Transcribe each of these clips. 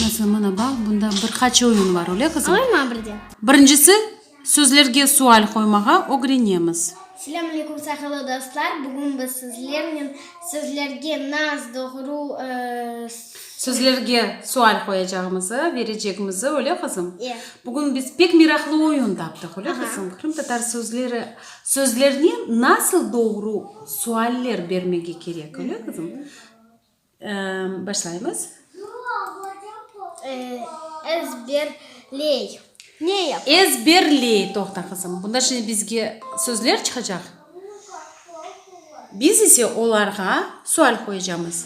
Mesela, mına bax, bunda bir qaç oyun bar, öyle qızım? Oyunlar birde. Birincisi, sözlerge sual qoymağa ögrenemiz. Selâm aleyküm, saqalı dostlar! Bugün biz sizlernen sözlerge nas, doğru, Sözlerge sual qoyacağımızı, verecekmizi, öyle qızım? Ye. Bugün biz pek meraqlı oyun taptıq, öyle qızım? Qırımtatar sözleri Sözlerine nasıl doğru sualler bermege kerek? Öyle qızım? Başlaymız. Ezberley. Ne yapay? Ezberley. Toqta qızım. Bunda şimdi bizge sözler çıqacaq. Biz ise olarğa sual qoyacamız.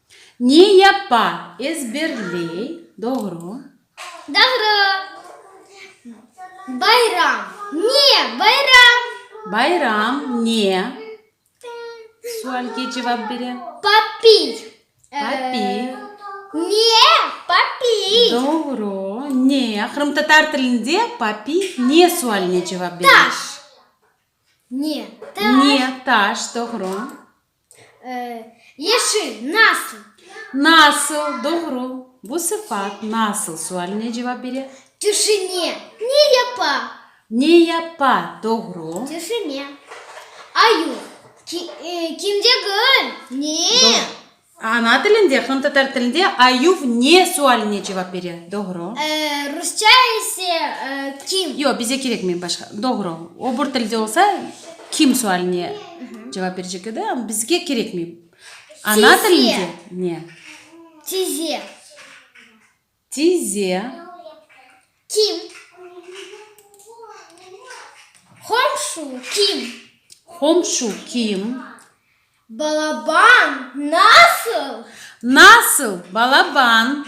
Ne yapa, ezberley, doğru. Doğru. Bayram, ne bayram? Bayram, ne sualge cevap bere? Papiy. Papiy. Ne papiy? Doğru. Ne, qırımtatar tilinde papiy ne sualine cevap bere? Taş. Ne taş? Ne taş, doğru. Yeşil, nasıl? Nasıl, doğru. Bu sıfat nasıl sualine cevap bere. Tüşüne, ne yapa? Ne yapa, doğru. Tüşüne. Ayu, kimde gül, ne? Ana tilinde, qırım tatar tilinde ayu ne sualine cevap bere, doğru. Rusça ise kim? Yoq, bize kerekmey başqa. Doğru, obur tilde olsa. Kim sualine cevap berecek edi, amma bizge kerekmey. Ana tilinde ne? Tize. Tize. Kim? Qomşu, kim? Qomşu, kim? Balaban, nasıl? Nasıl, balaban?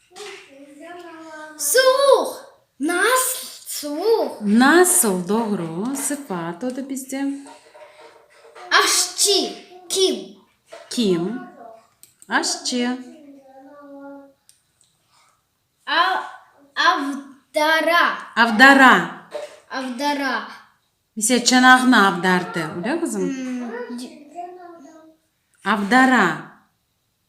Suvuq, nasıl suvuq? Nasıl, doğru, sıfat o da bizde. Aşçı, kim? Kim, aşçı. Avdara. Avdara. Avdara. Misal, çanağını avdardı, öyle qızım? Avdara.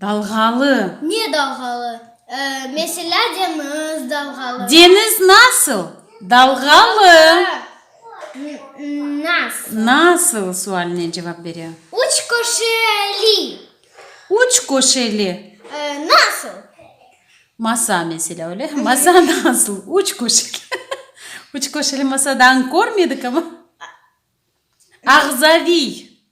Dalğalı. Ne dalğalı? Meselâ, deñiz dalğalı. Deñiz nasıl dalğalı? Nasıl. Nasıl sualine cevap bere. Üç köşeli. Üç köşeli. Nasıl. Masa meselâ, öyle? Masa nasıl? Üç köşeli. Üç köşeli masa dağın körmedik ama. Ağzaviy.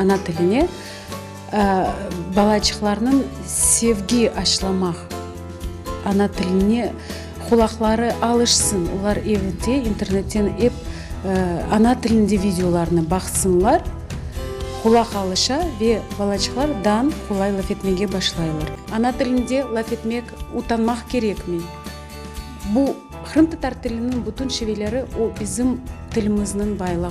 Ana tiline balaçıqlarnıñ sevgi aşılamaq, ana tiline qulaqları alışsın, olar evde internetten ep ana tilinde videolarnı baqsınlar, qulaq alışa ve balaçıqlar dan qolay laf etmege başlaylar. Ana tilinde laf etmek utanmaq kerekmey. Bu, qırımtatar tiliniñ bütün şiveleri, o bizim tilimizniñ baylığı.